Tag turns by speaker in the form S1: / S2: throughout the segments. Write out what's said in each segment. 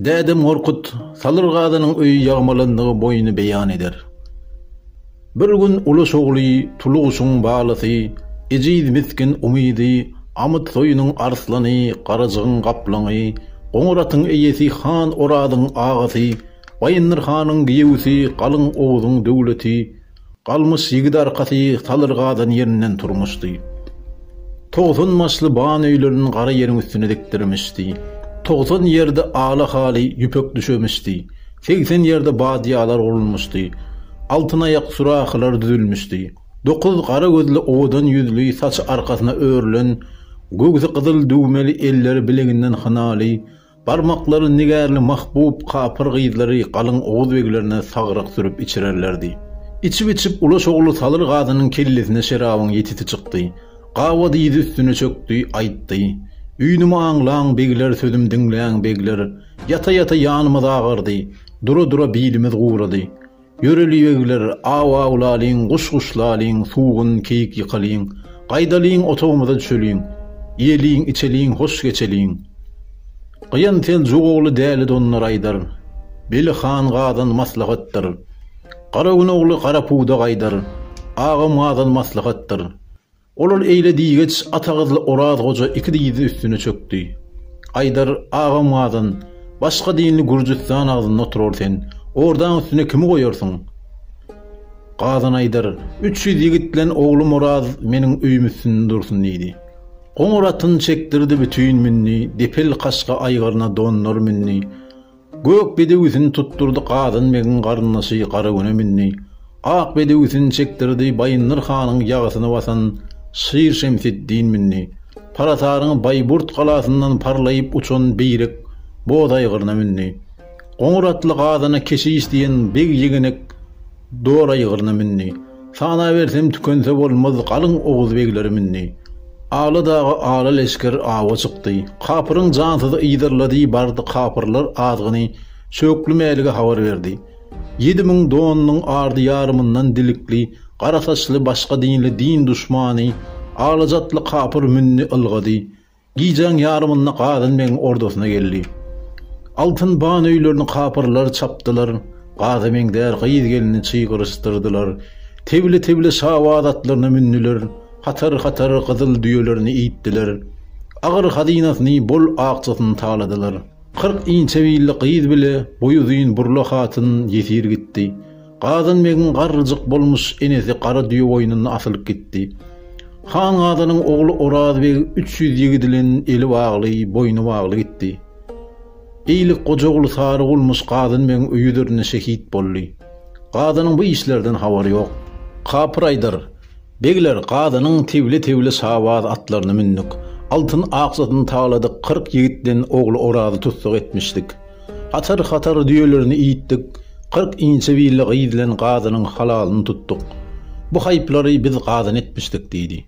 S1: Dädem Gorkut, Salyr Gazynyň öýi ýagmalandygy boýuny beýan eder. Bir gün Uluş ogly Tuluguşyň balasy, ejiz misgin Umydy, Amyt soýunyň arslany, Garajygyň gaplaňy, Goňur atyň eýesi Han Orazyň agasy, Baýyndyr hanyň giýewisi Galyň Oguzyň döwleti, Galmyş ýigit arkasy salyr gadan ýerinden turmuşdy. Togsan başly ban öýlerini gara ýeriň üstüne dikdirmişdi. Togsan ýerde ala haly ýüpek düşemişdi. Segsen ýerde badýalar gurulmuşdy. Altyn aýak sürahylar düzülmişdi. Dokuz gara gözli owadan ýüzli saçy arkasyna örülen, göwsi gyzyl düwmeli elleri bileginden hynaly, Barmaklary nigärli mahbub kapyr gyzlary galyň oguz beglerine sagryk sürüp içirerlerdi. Içip-içip Ulaş ogly Salyr gazynyň kellesine şerabyň ýetisi çykdy. Gaba dyzy üstüne çökdi, aýtdy. Üýnümi aňlaň, begler, sözüm diňläň, begler! Ýata-ýata ýanymyz agardy. Dura-dura bilimiz gurady. Ýöreliýegiler, aw-awlalyň, guş-guş lalyň, sugun, keýik ýykalyň, gaýdalyň, otagymyza düşeliň, iýeliň, içeliň, hoş geçeliň. Gyýan Seljuk ogly Däli donlar aýdar, Beli han Gazan maslahatdyr. Garagün ogly Garapugda gaýdar, Agam Gazan maslahatdyr. Ol-ol eýle diýgeç Atagyzly Oraz goja iki dyzy üstüne çökdi. Aýdar agam gadan, başga dinli Gürjüstan agzynda oturar sen, ordaň üstüne kimi goýarsyň? Gadan Aýdar, üç ýüz ýigit bilen oglum Oraz meniň öýüm üstünde dursun diýdi. Goňur atyny çekdirdi, bütin mündi, depel kaşga aýgyryna donlar mündi. Gök bedewisini tutdurdy Gazan begiň garyndaşy Garagüne mündi. Ak bedewisini çekdirdi Baýyndyr hanyň ýagysyny basan Şir Şemseddin mündi. Parataryň Baýburt galasyndan parlaýyp uçan Beýrek boz aýgyryna mündi. Goňur atly Gazana keşiş diýen beg ýegenek Dora ýygryna mündi. Sanabersem tükense bolmaz galyň oguz begleri mündi. Ala daga ala leşger awa çykdy. Kapyryň jansyzy yzarlady bardy kapyrlar azgyny Şöwkli Mälige habar berdi. Ýedi müň donunyň ardy ýarymyndan dilikli, gara saçly başga dinli din duşmany alajatly kapyr mündi ylgady. Gijäň ýarymynda Gazan begiň ordasyna geldi. Altyn ban öýlerini kapyrlar çapdylar, Gaza meňzär gyz-gelini çygyryşdyrdylar. Tebile-tebile şabaz atlaryna mündüler, hatar-hatar gyzyl düýelerini iýtdiler. Agyr hazynasyny, bol akjasyny taladylar. Kyrk inçe billi gyz bile, boýuzyn burla hatyn ýesir gitdi. Gazanbegiň garryjyk bolmuş enesi gara düýe goýnuny asylyp gitdi. Han Gazanyň ogly Orazbeg üç ýüz ýigidi bilen eli bagly, boýny bagly gitdi. Eýlik Gojaguly Sarygulmyş Gazanbegiň öýi üzerinde şehit boldy. Gazanyň bu işlerden habary ýok. Kapyr aýdar, Begler, Gazanyň tebile-tebile şabaz atlaryny mündük. Altyn akjasyny taladyk kyrk ýigit bilen ogly Orazy tussag etmişdik. Hatar-hatar düýelerini iýitdik, kyrk inçe birli gyz bilen gazynyň halalyny tutduk. Bu haýplary biz gazan etmişdik, diýdi.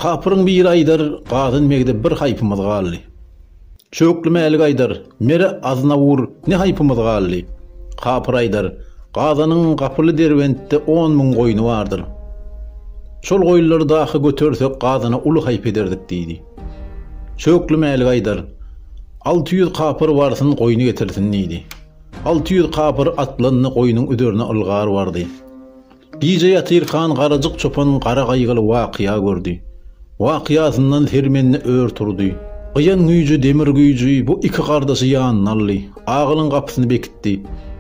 S1: Kapyryň biri aýdar, Gazan megde bir haýpymyz galdy. Çökli mälik aýdar, Mere Aznawur ne haýpymyz galdy. Kapyr aýdar, Gazanyň gapyly Derbentde on müň goýny bardyr. Şol goýunlary dahy götersek gazana uly haýp ederdik, diýdi. Çökli Mäli gaýdar. Alty ýüz kapyr barsyn goýny getirsin diýdi. Alty ýüz kapyr atlandy goýnuň üzerine ylgar bardy. Gije ýatyrkan Garajyk çopan gara gaýgyly wakya gördi. Wakyasyndan sermendi ör turdy. Gyýan güýji demir güýji bu iki gardaşy ýanyna aldy. Agylyň gapysyny bekitdi.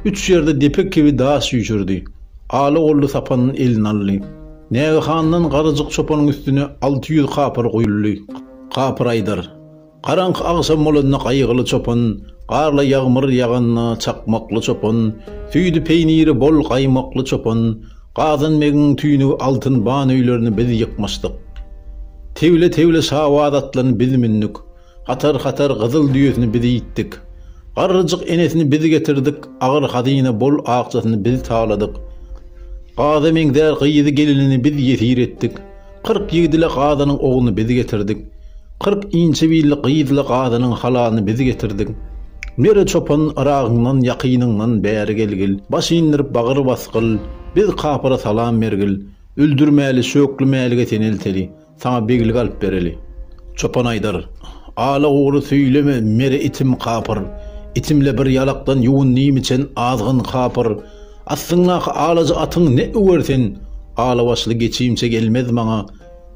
S1: Üç ýerde depe kibi daş üýşürdi. Ala golly sapanyn eline aldy. Nägehandan Garajyk çopanyň üstüne alty ýüz kapyr guýuldy. Kapyr aýdar. Garaňky agşam bolanda Gaýgyly çopan, Garly ýagmyr ýaganda Çakmakly çopan, Süýdi peýniri bol gaýmakly çopan, Gazan begiň tüýnügi altyn ban öýlerini biz ýykmyşdyk. Tegle-tegle şabaz atlany biz mündük. Hatar-hatar gyzyl düýesini biz iýitdik. Garryjyk enesini biz getirdik, agyr hazyna bol akjasyny biz taladyk. Gaza meňzär gyzy gelinini biz ýesir etdik. Kyrk ýigit ile gazanyň ogluny biz getirdik. Kyrk inçe billi gyz ile gazanyň halalyny biz getirdik. Nere çopan, Yragyňdan, ýakynyňdan bäri gelgil, baş indirip bagyr basgyl, biz kapyra salam bergil, öldürmäli, şöklemälige senelteli. Saňa beglik alyp bereli. Çopan aýdar, Ala gury söýleme, mere itim kapyr. Itimle bir ýalakdan ýuwundim içen azgyn kapyr. Astyňdaky alaja atyň ne öwer sen, ala başly geçimçe gelmez maňa.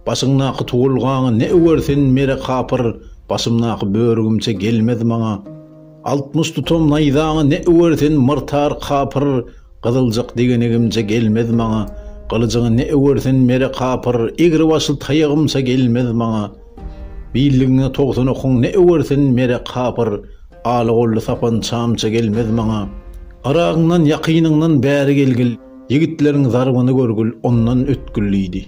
S1: Başyňdaky tuwulgaňy ne öwer sen, mere kapyr, başymdaky börügimçe gelmez maňa. Altmyş tutam naýzaňy ne öwer sen, myrtar kapyr. Gyzyljak degenegimce gelmez maňa, Gylyjyňy ne öwersen mere kapyr, Egri başly taýagymça gelmez maňa, Billigiňe togsan okuň ne öwersen mere kapyr, Aly golly sapançamça gelmez maňa. Yragyňdan, ýakynyňdan bäri gelgil, Ýigitleriň zarbyny görgül, ondan ötgül diýdi.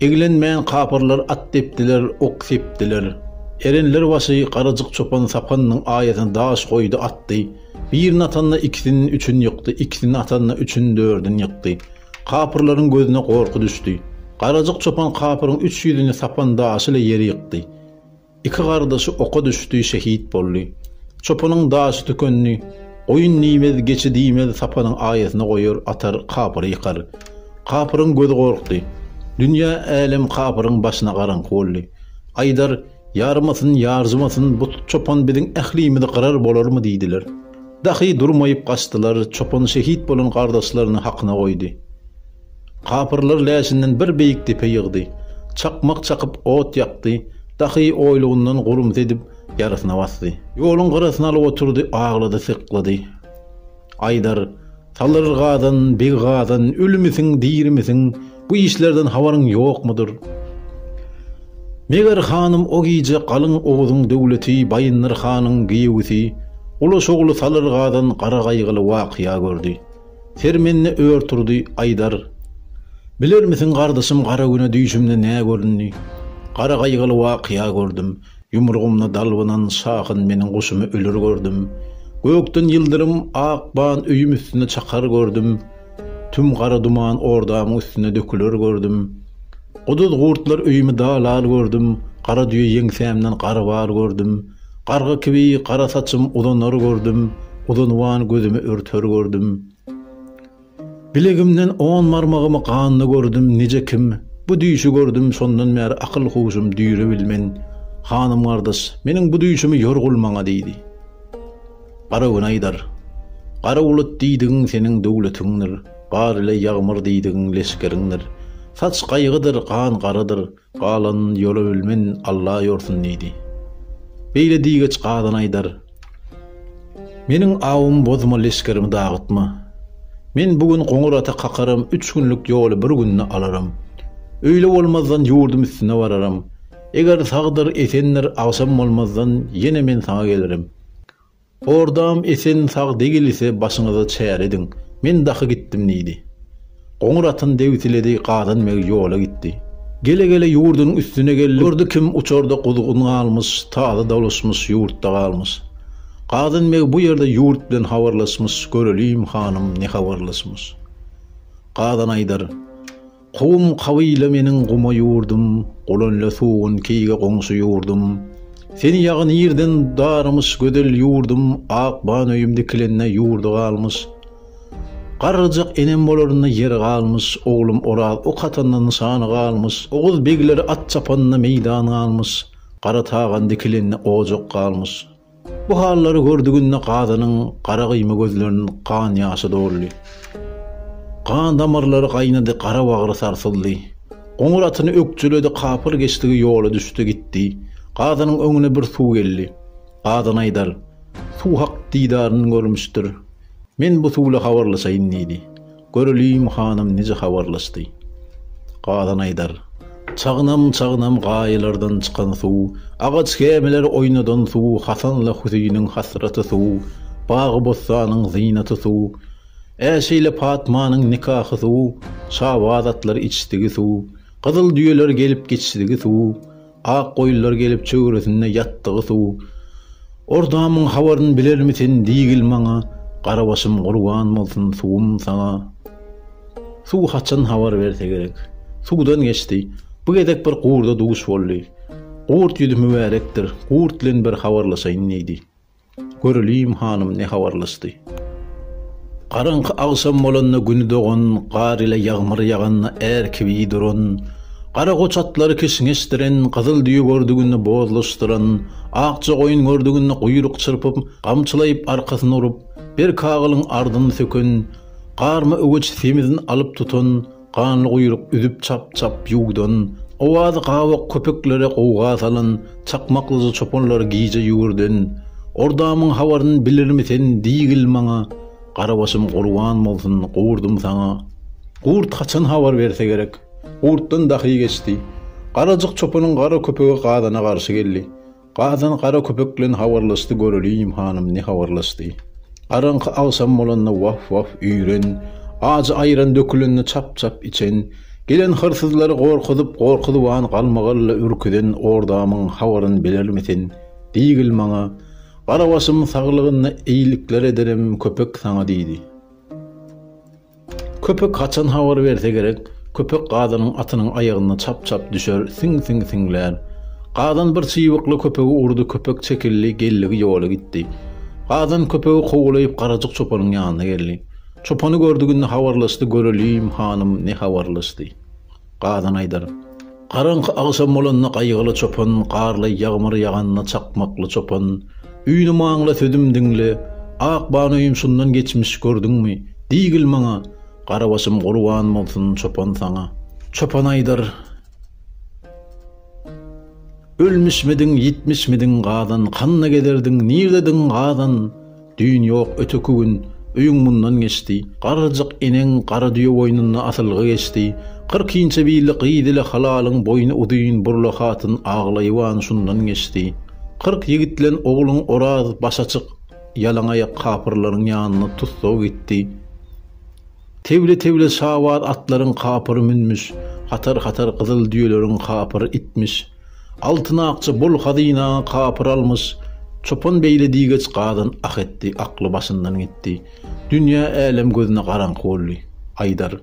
S1: Eglenmän kapyrlar at depdiler, ok sepdiler. Erenler başy Garajyk çopan sapannyň aýasyna daş goýdy, atdy. Birini atanda ikisini üçin ýykdy, ikisini atanda üçin dördün ýykdy. Kapyrlaryň gözüne gorky düşdi. Garajyk çopan kapyryň üç ýüzüni sapan daşy ile ýere ýykdy. Iki gardaşy oka düşdi, şehit boldy. Çopanyň daşy tükendi. Goýun diýmez, geçi diýmez, sapanyň aýasyna goýar, atar, kapyry ýykar. Kapyryň gözi gorkdy. Dünýä, älem kapyryň başyna garaňky boldy. Aýdar, Ýaramasyn, ýarjymasyn, bu çopan biziň ählimizi gyrar bolarmy diýdiler. Dahy durmaýyp gaçdylar, çopan şehit bolan gardaşlaryny hakyna goýdy. Kapyrlar läşinden bir beýik depe ýygdy. Çakmak çakyp ot ýakdy, dahy oýlugyndan gurumsy edip ýarysyna basdy. Ýoluň gyrasyna alyp oturdy, aglady-syklady. Aýdar, Salyr Gazan, Beg Gazan, ölümisiň, dirimisiň, bu işlerden habaryň ýokmudyr? Meger hanym o gije Galyň Oguzyň döwleti Baýyndyr hanyň giýewisi, Ulaş ogly Salyr Gazan gara gaýgyly wakya gördi. Sermende ör turdy, Aýdar, Bilermisiň, gardaşym, gara güne düýşümde nä göründi? Gara gaýgyly wakya gördüm. Ýumrugymda dalbynan şahyn meniň guşumy ölür gördüm. Gökden ýyldyrym ak ban öýüm üstüne çakar gördüm. Tüm gara duman ordamyň üstüne döküler gördüm. Guduz gurtlar öýümi dalal gördüm. Gara düýe ýeňsämden garbal gördüm. Garga kibi gara saçym uzanar gördüm. Uzynwan gözümi örter gördüm. Bilegimden on barmagymy ganda gördüm nije kim bu düýşi gördüm şondan bäri akyl huşum düýrewil men hanym gardaş meniň bu düýşimi ýorgul maňa diýdi gara gün aýdar gara bulut diýdigiň seniň döwletiňdir bar ile ýagmyr diýdigiň leşgeriňdir saç gaýgydyr gan garadyr Galan ýola bilmen Alla ýorsun diýdi. Beýle diýgeç gadan aýdar, Meniň awumy bozma leşgerimi dagytma. Men bu gün goňur ata kakaram üç günlük ýoly bir günde alaram. Öýle bolmazdan ýurdum üstüne bararam. Eger sagdyr, esendir agşam bolmazdan ýene men saňa gelirim. Hordam esen sag degilse başyňyza çäre ediň, men dahy gitdim diýdi. Goňur atyn debsiledi gazan meg ýola gitdi. Gele gele ýurdunyň üstüne geldi gördi kim uçarda guzgun galmyş taza dolaşmyş ýurtda galmyş. Gazan meg bu ýerde ýurt bilen habarlaşmyş göreliýim hanym ne habarlaşmyş. Gazan aýdar. Kowum kabyla meniň guma ýurdum, Gulanla sugun keýge goňşy ýurdum. Sen ýagy nirden darymyş gözel ýurdum, Ak ban öýüm dikilende ýurdy galmyş. Garryjak enem bolarynda ýeri galmyş, Oglum Oraz ok atanda nyşany galmyş, Oguz begleri at çapanda meýdan galmyş, Gara tagan dikilende ojak galmyş. Bu hallary gördüginde Gazanyň gara gyýma gözlerini gan ýaşy doldy. Gan damarlary gaýnady, gara bagry sarsyldy. Goňur atyny ökjeledi, kapyl geçdigi ýola düşdi gitdi. Gazanyň öňüne bir suw geldi. Gazan aýdar, Suw hak didaryny görmüşdir. Men bu suw ile habarlaşaýyn diýdi. Göreliň hanym nije habarlaşdy. Galan aýdar. Çagnam-çagnam gaýalardan çykan suw, agaç gämileri oýnadan suw, Hasanla Hüsiniň hasraty suw, bagy-bossanyň zynaty suw, Äşeýle Patmanyň nikahy suw, Şabaz atlar içdigi suw, gyzyl düýeler gelip geçdigi suw, Ak goýunlar gelip çöwresinde ýatdygy suw. Ordamyň habaryn bilermi sen diýgil maňa, Garabaşym gurban bolsun suwum saňa. Suw haçan habar berse gerek. Suwdan geçdi. Bu gezek bir gurda duş boldy. Gurt ýüzi mübärekdir, gurt bilen bir habarlaşaýyn diýdi. Göreliýim hanym ne habarlaşdy. Garaňky agşam bolanda güni dogan, gar ile ýagmyr ýaganda är kibi duran, gara goç atlary kişňeşdiren, gyzyl düýe gördüginde bozlaşdyran, akja goýun gördüginde guýruk çyrpyp, gamçylaýyp arkasyny urup, berk agylyň ardyny söken, garma öweç semizini alyp tutan, Ganlyguýruk üzüp çap-çap ýuwdan, owazy gabak köpeklere gowga salan çakmaklyja çopanlar gije ýüwürden, Ordamyň habaryn bilirmi sen, diýgil maňa, Garabaşym gurban bolsun, gurdum saňa. Gurt haçan habar berse gerek? Gurtdan dahy geçdi. Garajyk çopanyň gara köpegi gazana garşy geldi. Gazan gara köpek bilen habarlaşdy göreliýim hanym ne habarlaşdy. Garaňky agşam bolanda waf waf üýren, ajy aýran dökülende çap çap içen, gelen hyrsyzlary gorkuzyp gorkuzyban galmagalla ürküzen ordamyň habaryn bilermi sen, diýgil maňa, Garabaşym saglygyna eýlikler ederem köpek saňa diýdi. Köpek haçan habar berse gerek, köpek gazanyň atynyň aýagyna çap-çap düşer, siň-siň siňlär. Gazan bir çybykly köpegi urdy, köpek çekildi, geldigi ýoly gitdi. Gazan köpegi kowalaýyp Garajyk çopanyň ýanyna geldi. Çopany gördüginde habarlaşdy, Göreliýim, hanym, ne habarlaşdy. Gazan aýdar. Garaňky agşam bolanda gaýgyly çopan, garly ýagmyr ýaganda çakmakly çopan, Üýnüm aňla, sözüm diňle, ak banoýum şundan geçmiş gördüňmi? Diýgil maňa, Garabaşym gurban bolsun çopan saňa. Çopan aýdar. Ölmüşmidiň, ýitmişmidiň, Gazan, kanda gezerdiň, nirdediň, Gazan? Düýn ýok, öteki gün, öýüň mundan geçdi. Garryjyk eneň gara düýe boýnunda asylgy geçdi. Kyrk inçe bili gyz ile halalyň boýny uzyn Burla hatyn aglaýyban şundan geçdi. Kyrk ýigitlen ogluň Oraz baş açyk, ýalaňaýak kapyrlaryň ýanyna tussag gitdi. Tewle-tewle şabaz atlaryň kapyry münmüş, hatar-hatar gyzyl düýeleriň kapyry itmiş. Altyn akja bol hazyna kapyr almyş. Çopan beýle diýgeç gazan ah etdi, akly başyndan gitdi. Dünýe-älem gözüne garaňky boldy. Aýdar.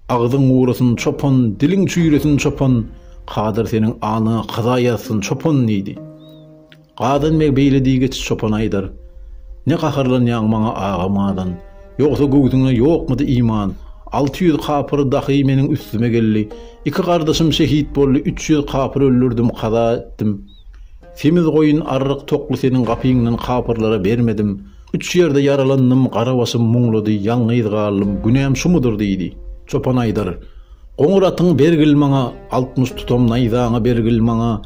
S1: Agzyň gurasyn, çopan, diliň çüýresin, çopan, kadyr seniň aňyňa kaza ýazsyn, çopan diýdi. Gadan beg beýle diýgeç çopan aýdar, Ne gaharlanýaň maňa aga madan, Ýogsa göwsüňde ýokmudy iman? Alty ýüz kapyr dahy meniň üstüme geldi. Iki gardaşym şehit boldy, üç ýüz kapyr öldürdim, kaza etdim. Semiz goýun, arryk, tokly seniň gapyňdan kapyrlara bermedim. Üç ýerde ýaralandym, gara başym muňludy, ýalňyz galdym, günäm şumudyr? diýdi. Çopan aýdar. Goňur atyňy bergil maňa, Altmyş tutam naýzaňy bergil maňa,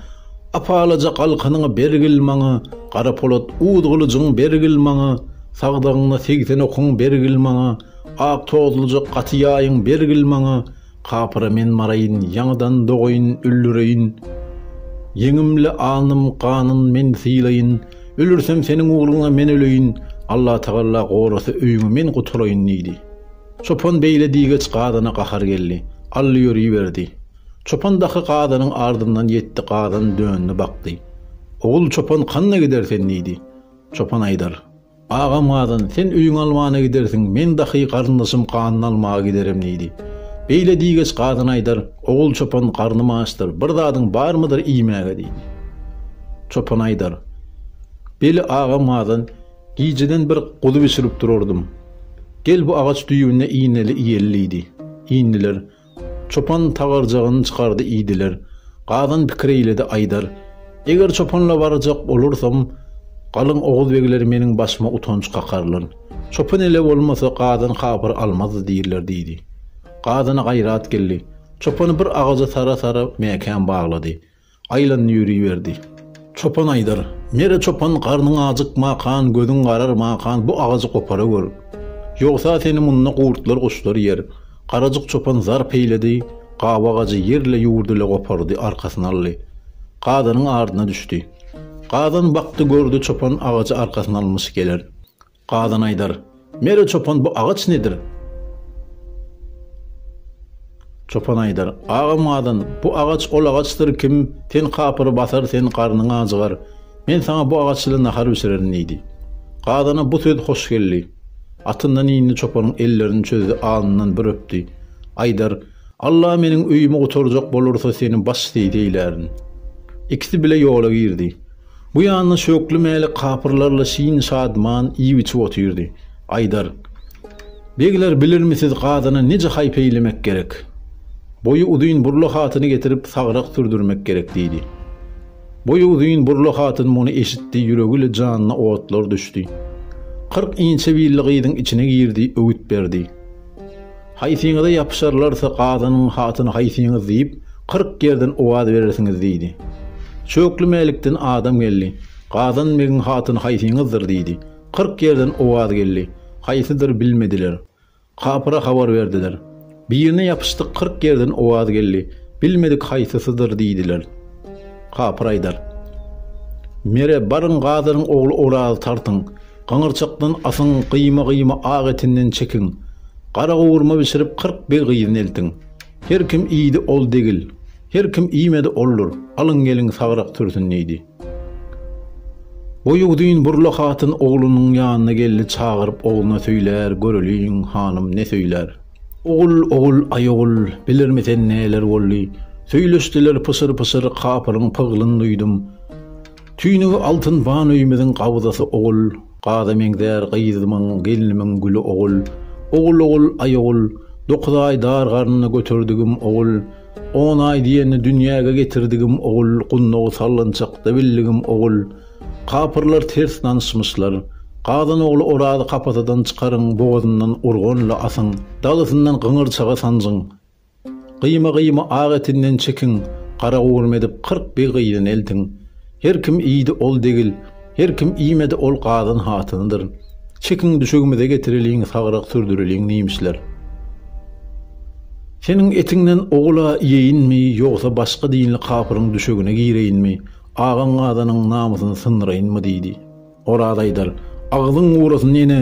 S1: Apalaja galkanyňy bergil maňa, Gara polat uz gylyjyň bergil maňa, Sagdagynda segsen okuň bergil maňa, Ak tozluja gaty ýaýyň bergil maňa, Kapyra men baraýyn, ýaňydan dogaýyn, öldüreýin, Ýeňimle alnym ganyn men sylaýyn, Ölürsem seniň ugruňa men öleýin, Allatagalla gorasa öýüňi men gutulaýyn diýdi. Çopan beýle diýgeç gazana gahar geldi. Ally ýöriberdi. Çopan daky gazanyň ardyndan ýetdi gazan döndi bakdy. Ogul çopan kanda gider sen diýdi. Çopan aýdar. Agam gazan sen öýüň almana gidersiň men daky garyndaşym ganyny almaga giderim diýdi. Beýle diýgeç gazan aýdar ogul çopan garnym açdyr bir zadyň barmydyr iýmäge diýdi. Çopan aýdar. Beli agam gazan Gijeden bir guzy bişirip durardym. Gel bu agaç düýbüne iýneli iýeli diýdi. Iýndiler. Çopan tagarjagyny çykardy iýdiler. Gazan pikir eýledi aýdar. Eger çopanla barjak bolursam, galyň oguz begleri meniň başyma utanç kakarlar. Çopan ele bolmasa gazan habyr almazdy diýirler diýdi. Gazana gaýrat geldi. Çopany bir agaja sara-sara mäkäm baglady. Aýlandy ýöriberdi. Çopan aýdar, Mere çopan garnyň ajykmakan, gözüň gararmakan bu agajy gopara gör. Ýogsa seni munda gurtlar guşlar ýer. Garajyk çopan zarp eýledi, gawy agajy ýerle ýurdyla gopardy arkasyna aldy. Gazanyň ardyna düşdi. Gazan bakdy gördi çopan agajy arkasyna almyş geler. Gazan aýdar, Mere çopan bu agaç nedir? Çopan aýdar, Agam Gazan, bu agaç ol agaçdyr kim ten kapyry basar sen garnyň ajygar. Men saňa bu agaç ile nahar bişirerin diýdi. Gazana bu söz hoş geldi. Atyndan indi çopanyň ellerini çözdi alnyndan bir öpdi. Aýdar, Alla meniň öýümi gutarjak bolursa seni baş seýis eýlärin. Ikisi bile ýola girdi. Bu ýanda Şökli Mälik kapyrlarla şin-şadyman iýip-içip otyrdy. Aýdar, Begler, bilirmisiz, gazyna nije haý peýlemek gerek? Boýy uzyn Burla hatyny getirip, sagrak sürdürmek gerek, diýdi. Boýy uzyn Burla hatyn muny eşitdi, ýüregi ile janyna otlar düşdi. Kyrk inçe billi gyzyň içine girdi, öwüt berdi. Haýsyňyza ýapyşarlarsa, gazynyň hatyny haýsyňyz diýip, kyrk ýerden owaz berersiňiz diýdi. Çökli Mälikden adam geldi. Gazan begiň hatyny haýsyňyzdyr diýdi. Kyrk ýerden owaz geldi. Haýsydyr bilmediler. Kapyra habar berdiler. Birine ýapyşdyk kyrk ýerden owaz geldi. Bilmedik haýsysydyr diýdiler. Kapyr aýdar. Mere, baryň, gazanyň ogly Orazy tartyň. Gyňyrçykdan asyň, gyýma-gyýma ak etinden çekiň. Gara gowurma bişirip kyrk beg gyzyny eltiň. Her kim iýdi, ol degil. Her kim iýmedi, oldur. Alyň geliň, sagrak sürsün, diýdi. Boýuzyn burla hatyn oglunyň ýanyna gelni çagyryp ogluna söýlär, göreliň, hanym, ne söýlär. Ogul, ogul, aý ogul, bilirmi sen neler boldy? Söýleşdiler pyşyr-pyşyr, kapyryň pyglyn duýdum. Tüýnügi altyn wan öýümiziň gabzasy ogul, gaza meňzär gyzymyň, gelnimiň güli ogul, ogul ogul, aý ogul, dokuz aý dar garnynda göterdigim ogul, on aý diýende dünýäge getirdigim ogul, gundagy sallançakda bildigim ogul, kapyrlar ters danyşmyşlar, gazan ogly Orazy kapasadan çykaryň, bogazyndan urgan-la asyň, dalysyndan gyňyrçaga sanjyň, Gyýma-gyýma ak etinden çekiň, garagurma edip kyrk bir gyzyny eltiň. Her kim iýdi, ol degil, her kim iýmedi, ol gazan hatynydyr. Çekiň, düşegimize getireliň, sagrak sürdüreliň, nimişler. Seniň etiňden ogul-a iýeýinmi, ýogsa başga dinli kapyryň düşegine gireýinmi, agaň-gazanyň namysyny syndyraýynmy? diýdi. Oraz aýdar, Agzyň gurasyn, ene,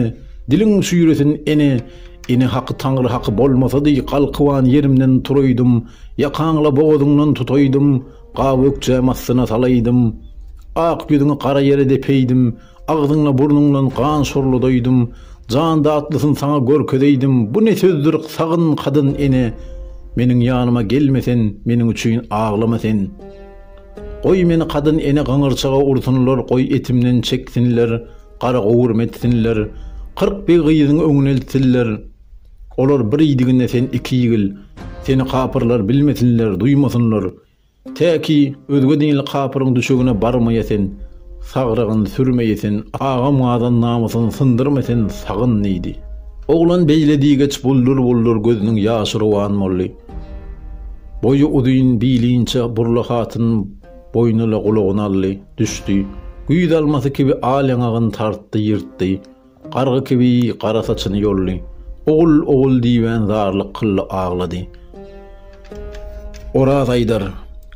S1: diliň çüýresin, ene, Ene haky Taňry haky bolmasady, galkyban ýerimden turaýdym, ýakaňla bogazyňdan tutaýdym, gawy ökjäm astyna salaýdym, ak ýüzüňi gara ýere depeýdim, agzyňla burnuňdan gan şorladaýdym, jan datlysyn saňa görkezeýdim, bu ne sözdür, sagyn kadyn, ene, Meniň ýanyma gelme sen, meniň üçin aglama sen. Goý meni kadyn ene gyňyrçaga ursunlar goý etimden çeksinler gara gowurma etsinler kyrk bir gyzyň öňüne iltsinler olar bir iýdiginde sen iki ýigil seni kapyrlar bilmesinler duýmasynlar tä ki özge dinli kapyryň düşegine barmaýa sen sagrygyn sürmeýe sen agam gadan namysyny syndyrma sen sagyn diýdi. Oglan beýle diýgeç buldur buldur gözüniň ýaşy rowan boldy. Boýy uzyn, bili inçe, burla hatyn boýnula gulagyny aldy, düşdi. Güýz almasy kibi al ýaňagyny tartdy, ýyrtdy. Gargy kibi gara saçyny ýoldy. Ogul, ogul diýibän zarlyk kyldy, aglady. Oraz aýdar,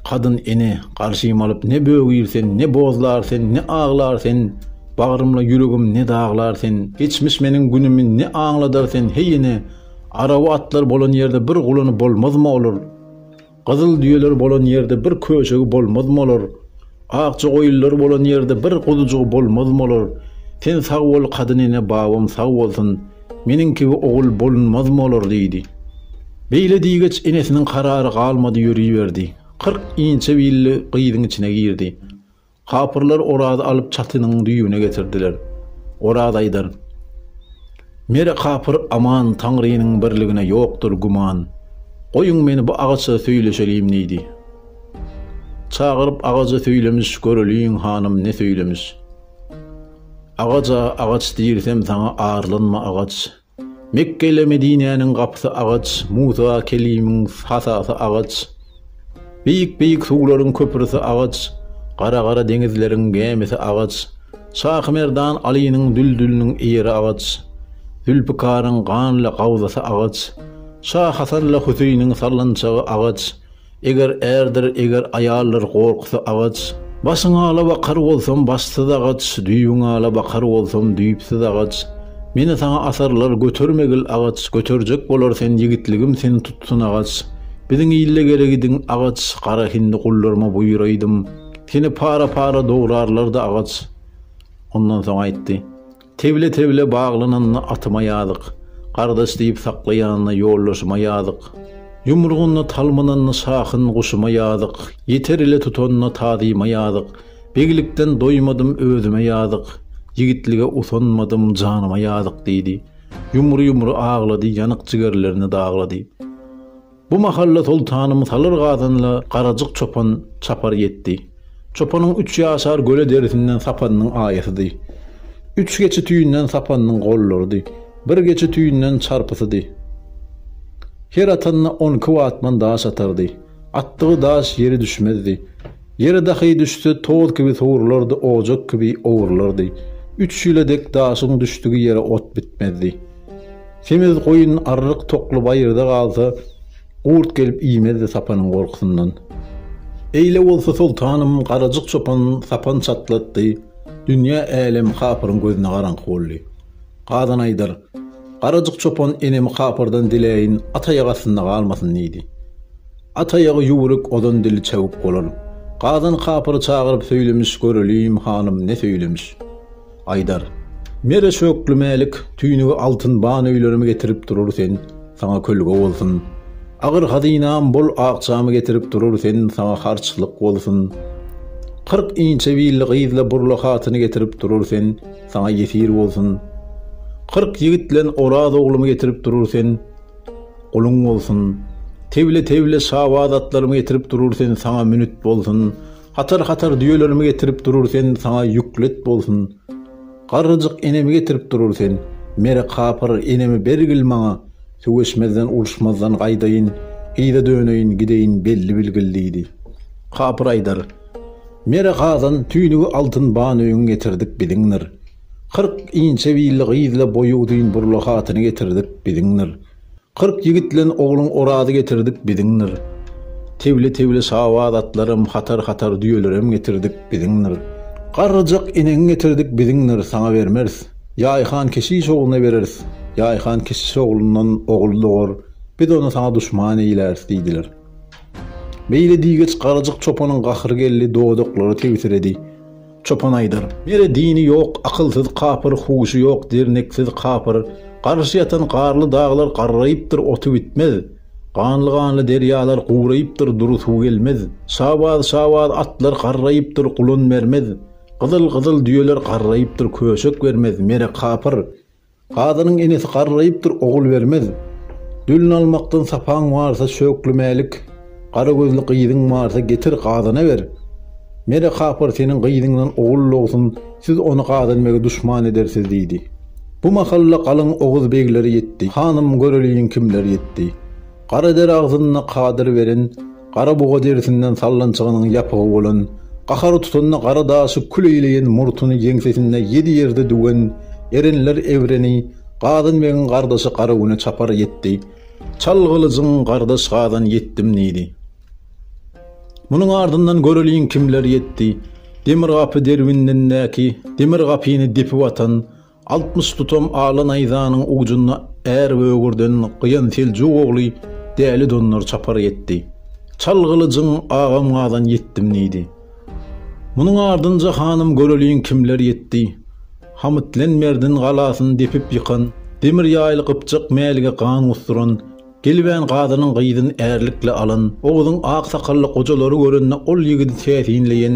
S1: Kadyn ene, garşyma alyp ne bögür sen, ne bozlar sen, ne aglar sen, Bagrymla ýüregim ne daglar sen, Geçmiş meniň günümi ne aňladar sen, Heý ene! Araw atlar bolan ýerde bir gulany bolmazmy olar? Gyzyl düýeler bolan ýerde bir köşegi bolmazmy olar? Akja goýunlar bolan ýerde bir guzujygy bolmazmy olar? Sen sag bol, kadyn ene, babam sag bolsun, meniň kibi ogul bolunmazmy olar? diýdi. Beýle diýgeç, enesiniň karary galmady, ýöriberdi. Kyrk inçe billi gyzyň içine girdi. Kapyrlar Orazy alyp çatynyň düýbüne getirdiler. Oraz aýdar, Mere kapyr aman, Taňrynyň birligine ýokdur güman. Goýuň meni bu agaça söýleşelim diýdi. Çagyryp agajy söýlemiş, Göreliň, hanym, ne söýlemiş. Agaja, Agaç diýrsem saňa arlanma agaç. Mekge ile Medinäniň gapysy agaç, Musa kelimiň hasasy agaç, Beýik-beýik suwlaryň köprüsi agaç, Gara-gara deňizleriň gämisi agaç, Şahy Merdan Alynyň düldüliniň ýeri agaç, Zülpikaryň ganly gabzasy agaç, Şah Hasan ile Hüseýiniň sallançagy agaç, Eger ärdir, eger aýaldyr gorkusy agaç. Başyň ala bakar bolsam başsyz agaç, düýbüň ala bakar bolsam düýpsüz agaç. Meni saňa asarlar götermegil agaç, göterjek bolar sen ýigitligim seni tutsun agaç. Biziň ilde gelegidiň agaç, gara hindi gullarma buýraýdym. Seni para-para dograrlardy agaç. Ondan soň aýtdy. Tewle-tewle baglananda atyma ýazyk, Gardaş diýip saklaýanda ýoldaşyma ýazyk. Ýumrugynda talmynanda şahyn guşuma ýazyk, Ýeter ile tutanda tazyma ýazyk. Beglikden doýmadym, özüme ýazyk, Ýigitlige utanmadym, janyma ýazyk diýdi. Ýumry-ýumry aglady, ýanyk jigerlerini daglady. Bu mahal-da soltanym salyr gazanla garajyk çopan çapar ýetdi. Çopanyň üç ýaşar göle derisinden sapanynyň aýasydy. Üç geçi tüýünden sapanynyň gollarydy. Bir geçi tüýünden çarpysydy. Her atanda on iki watman daş atardy. Atdygy daş ýere düşmezdi. Ýere dahy düşse, toz kibi sowrulardy, ojak kibi owrulardy. Üç ýyla dek daşyň düşdügi ýere ot bitmezdi. Semiz goýun arryk tokly baýyrda galsa, gurt gelip iýmezdi sapanyň gorkusyndan. Eýle bolsa soltanym garajyk çopan sapan çatlatdy, dünýä älem kapyryň gözüne garaňky boldy. Gazan aýdar, Garajyk çopan enemi kapyrdan diläýin at aýagy astynda galmasyn diýdi. At aýagy ýüwrük ozan dili çewük bolar. Gazan kapyry çagyryp söýlemiş göreliýim hanym ne söýlemiş. Aýdar, Mere şökli mälik tüýnügi altyn ban öýlerimi getirip durur sen, saňa kölge bolsun. Agyr hazynam bol akjamy getirip durur sen, saňa harçlyk bolsun. Kyrk inçe billi gyzla burla hatyny getirip durur sen, saňa ýesir bolsun. Kyrk ýigit bilen Oraz oglumy getirip durur sen, guluň bolsun. Tewle-tewle şabaz atlarymy getirip durur sen, saňa münüt bolsun. Hatar hatar düýelerimi getirip durur sen saňa ýüklet bolsun Garryjyk enemi getirip durur sen Mere kapyr enemi bergil maňa Söweşmezden uruşmazdan gaýdaýyn Gyza döneýin gideýin belli bilgil diýdi Kapyr aýdar Mere gazan tüýnügi altyn banöýüň getirdik biziňdir Kyrk inçe billi gyzla boýy uzyn burla hatyny getirdik biziňdir Kyrk ýigit bilen ogluň Orazy getirdik biziňdir. Tebli-tebli şabaz atlaram, hatar-hatar düýelerem getirdik biziňdir. Garryjak enegiň getirdik biziňdir, saňa bermeris. Ýaýhan keşiş ogluna bereris. Ýaýhan keşiş oglundan ogul dogar, biz ony saňa duşman eýläris diýdiler. Beýle diýgeç Garryjak çopanyň gahyry geldi, dodaklary tebsiredi. Çopan aýdar, Nere dini ýok, akylsyz kapyr, huşy ýok, derneksiz kapyr. Garşy ýatan garly daglar garraýypdyr, oty bitmez. Ganly-ganly derýalar guraýypdyr, dury suw gelmez. Şabaz-şabaz atlar garraýypdyr, gulan bermez. Gyzyl-gyzyl düýeler garraýypdyr, köşek bermez. Nere kapyr? Gazynyň enesi garraýypdyr, ogul bermez. Dülin almakdan sapaň barsa, şöklemälik, gara gözli gyzyň barsa, getir, gazyna ber. Mere kapyr seniň gyzyňdan ogul dogsun, siz ony gazynbege duşman edersiz, diýdi. Bu mahalla galyň oguz begleri ýetdi. Hanym, göreliň, kimler ýetdi. Gara der agzynda kadyr beren. Gara buga derisinden sallançagynyň ýapygy bolan, gahary tutanda gara daşy kül eýleýän murtuny ýeňsesinde ýedi ýerde düwen erenler evreni Gazan begiň gardaşy Garagüne çapar ýetdi. Çal gylyjyň, gardaş Gazan ýetdim diýdi. Munuň ardyndan göreliň kimler ýetdi. Demir gapy derwindindäki, demir gapyny depip atan, Altmyş tutam ala naýzanyň ujunda är böwürden gyýan Seljuk ogly Däli Dondar çapar ýetdi. Çal gylyjyň agam gazan ýetdim diýdi. Munuň ardynja hanym göreliň kimler ýetdi. Hamytlenmerdin galasyny depip ýykan, demir ýaýly gypjak Mälige gan gusduran, Gelibän gazynyň gyzyny ärlikle alan Oguzyň ak sakally gojalary görende ol ýigidi täsinleýen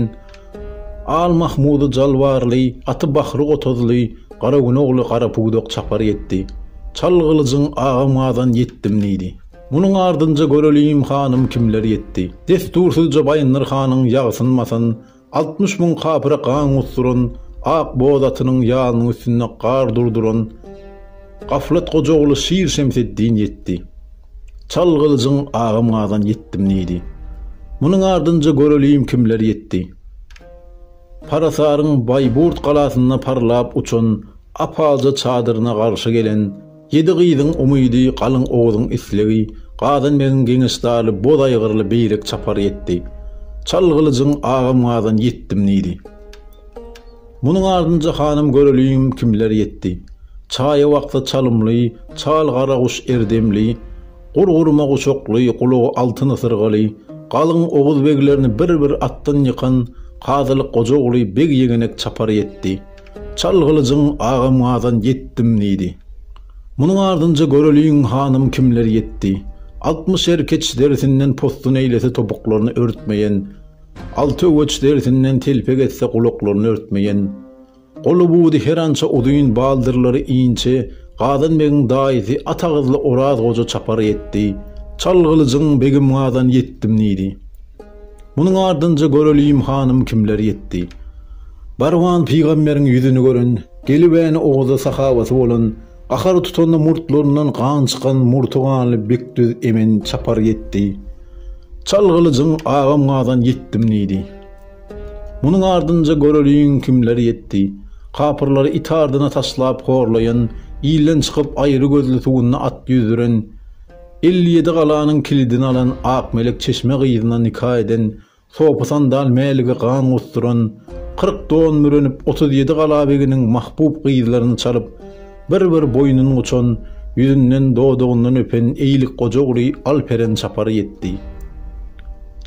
S1: Al Mahmudy jalbarly, aty Bahry Otuzly, Garagün ogly Garapuduk çapar ýetdi. Çal gylyjyň, agam gazan ýetdim diýdi. Munuň ardynja görelim hanym kimler ýetdi. Dessursyzja Baýyndyr hanyň ýagsynmasyn, Altmyş müň kapyra gan gusduran, ak boz atynyň ýalynyň üstünde gar durduran Gaflat Gojaguly şir Şemseddin ýetdi. Çal gylyjyň agam gazan ýetdim diýdi. Munuň ardynja göreliň kimler ýetdi. Parasaryň Baýburt galasynda parlap uçan ap-alja çadyryna garşy gelen Ýedi gyzyň umydy, galyň Oguzyň islegi, Gazan begiň geňeşdaly boz aýgyrly beýrek çapary ýetdi. Çal gylyjyň, agam Gazan, ýetdim diýdi. Munuň ardynja hanym göreliň kimler ýetdi. Çaýy wakdy çalymly, çal gara guş er demli, Gur-gurma guşakly, gulagy altyn ysyrgaly, Galyň Oguz beglerini bir-bir atdan ýykan Kazylyk goja ogly beg ýegenek çapary ýetdi. Çal gylyjyň agam gazan ýetdim diýdi. Munuň ardynja göreliň hanym kimler ýetdi. Altmyş er keç derisinden postun eýlese topuklaryny örtmeýen, alty öweç derisinden telpek etse gulaklaryny örtmeýen, goly budy herança uzyn baldyrlary inçe Gazan begiň daýysy at agyzly Oraz goja çapar ýetdi. Çal gylyjyň begim gazan ýetdim diýdi. Munuň ardynja göreliýim hanym kimler ýetdi. Barwan pygamberiň ýüzüni gören, gelibäni owaza sahabaty bolan, gahary tutanda murtlaryndan gan çykan murty ganly Bekdüz emen çapar ýetdi. Çal gylyjyň agam gazan ýetdim diýdi. Munuň ardynja göreliýiň kimler ýetdi. Kapyrlary it ardyna taşlap horlaýan, ilden çykyp aýry gözli suwunda at ýüzdüren, Elli ýedi galanyň kilidini alan Akmelek çeşme gyzyna nika eden, sopa-sandal mälige gan gusduran, kyrk don bürenip, otuz ýedi gala beginiň mahbub gyzlaryny çalyp, bir-bir boýnun guçan, ýüzünden, dodagyndan öpen eýlik goja ogly Alperen çapar ýetdi.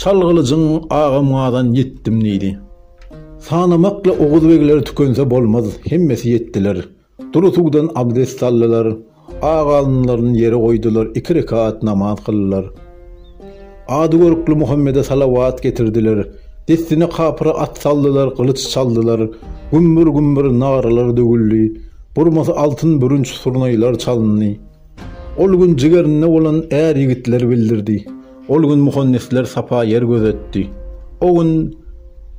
S1: Çal gylyjyň, agam gazan, ýetdim diýdi. Sanamakla oguz begleri tükense bolmaz, hemmesi ýetdiler. Dury suwdan abdest aldylar. Ak alynlaryny ýere goýdular, iki rekat namaz kyldylar. Ady görkli Muhammede salawat getirdiler. Dessine kapyra at saldylar, gylyç çaldylar. Gümmür-gümmür nagralar döwüldi. Burmasy altyn bürünç surnaýlar çalyndy. Ol gün jigerinde bolan är ýigitler bildirdi. Ol gün muhandisler sapa ýer gözetdi. O gün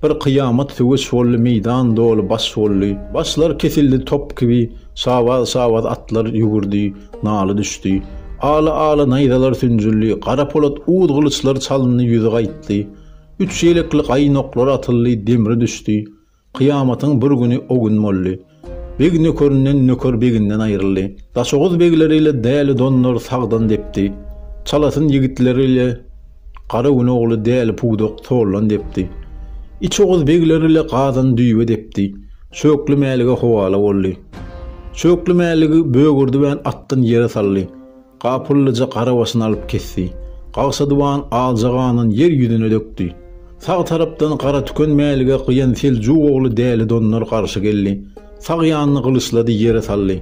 S1: bir kyýamat söweş boldy meýdan doly baş boldy. Başlar kesildi top kibi şabaz şabaz atlar ýugurdy naly düşdi. Ala ala naýzalar sünjüldi gara polat uz gylyçlar çalyndy ýüzi gaýtdy. Üç ýelekli gaýnoklar atyldy demri düşdi. Kyýamatyň bir güni o gün boldy. Beg nökerinden, nöker beginden aýryldy. Daşoguz begleri ile Däli Dondar sagdan depdi. Çalasyn ýigitleri ile Gara gün ogly Däli Pudak soldan depdi. Iç Oguz begleri ile Gazan düýe depdi. Çökli Mälige howala boldy. Çökli Mäligi bögürdibän atdan ýere saldy. Gapyllyja garabasyny alyp kesdi. Gagsadyban alja ganan ýer ýüzüne dökdi. Sag tarapdan Garatüken Mälige gyýan seljuk ogly Däli Dondar garşy geldi. Sag ýanyny gylyçlady, ýere saldy.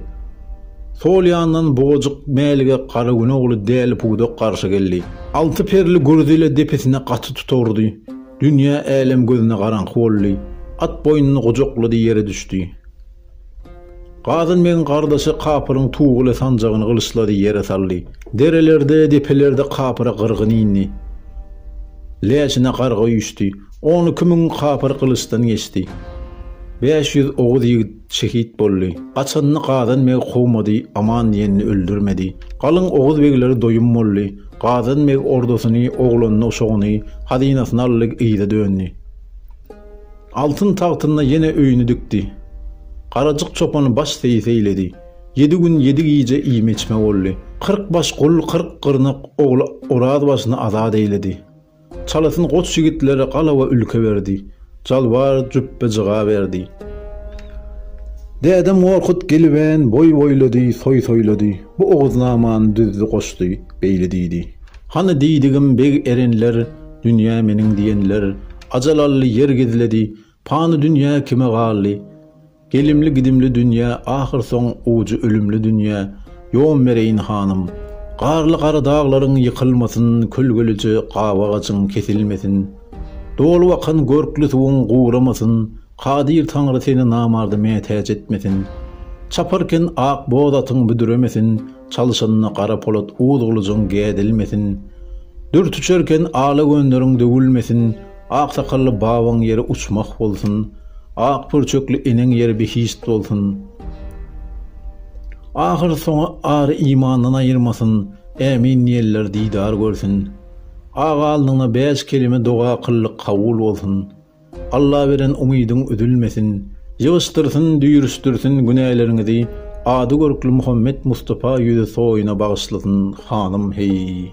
S1: Sol ýandan Bugajyk Mälige Garagün ogly Däli Pudak garşy geldi. Alty perli gürzi ile depesine gaty tutagurdy. Dünýä, älem gözüne garaňky boldy. At boýnuny gujaklady, ýere düşdi. Gazyn begiň gardaşy kapyryň Tuguly sanjagyny gylyçlady, ýere saldy. Derelerde, depelerde kapyra gyrgyn indi. Läşine garga üýşdi. On iki müň kapyr gylyçdan geçdi. Bäş ýüz oguz ýigit şehit boldy. Gaçanyny Gazan beg kowmady, aman diýenini öldürmedi. Galyň oguz begleri doýum boldy. Gazan beg ordasyny, oglanyny, uşagyny, hazynasyny aldy, yza döndi. Altyn tagtynda ýene öýüni dikdi. Garajyk çopany baş seýis eýledi. Ýedi gün, ýedi gije iýme-içme boldy. Kyrk baş gul, kyrk gyrnak ogly Orazbaşyny azat eýledi. Çalasyn goç ýigitlere gala we ülke berdi. Jalbar jüpbe-jyga berdi. Dädem Gorkut gelibän boý boýlady, toý toýlady. Bu Oguznamany düzdi, goşdy. Beýle diýdi. Hany diýdigim beg erenler, dünýä meniň diýenler, Ajal aldy, ýer gizledi, Pany dünýä kime galdy? Gelimli-gidimli dünýä, Ahyrsoň ujy ölümli dünýä, Ýom bereýin hanym. Garly gara daglaryň ýykylmasyn, Kölgelije gabagajyň kesilmesin. Dolup akan görkli suwuň guramasyn, Kadyr Taňry seni namarda mätäç etmesin. Çaparken ak boz atyň büdremesin, Çalşynyna gara polat uz gylyjyň gädilmesin, Dürt uçarken ala gönderiň döwülmesin, Aksakally babaň ýeri uçmah bolsun, Ak pürçekli eneň ýeri behişt bolsun, Ahyrsoňy ary imandan aýyrmasyn, Ämin diýenler didar görsün, Aga alnyňda bäş kelime doga kyldyk kabul bolsun. Alla beren umydyň üzülmesin, ýygyşdyrsyn, düýrüşdirsin günäleriňizi, ady görkli Muhammet Mustapa ýüzi toýuna bagyşlasyn hanym heý.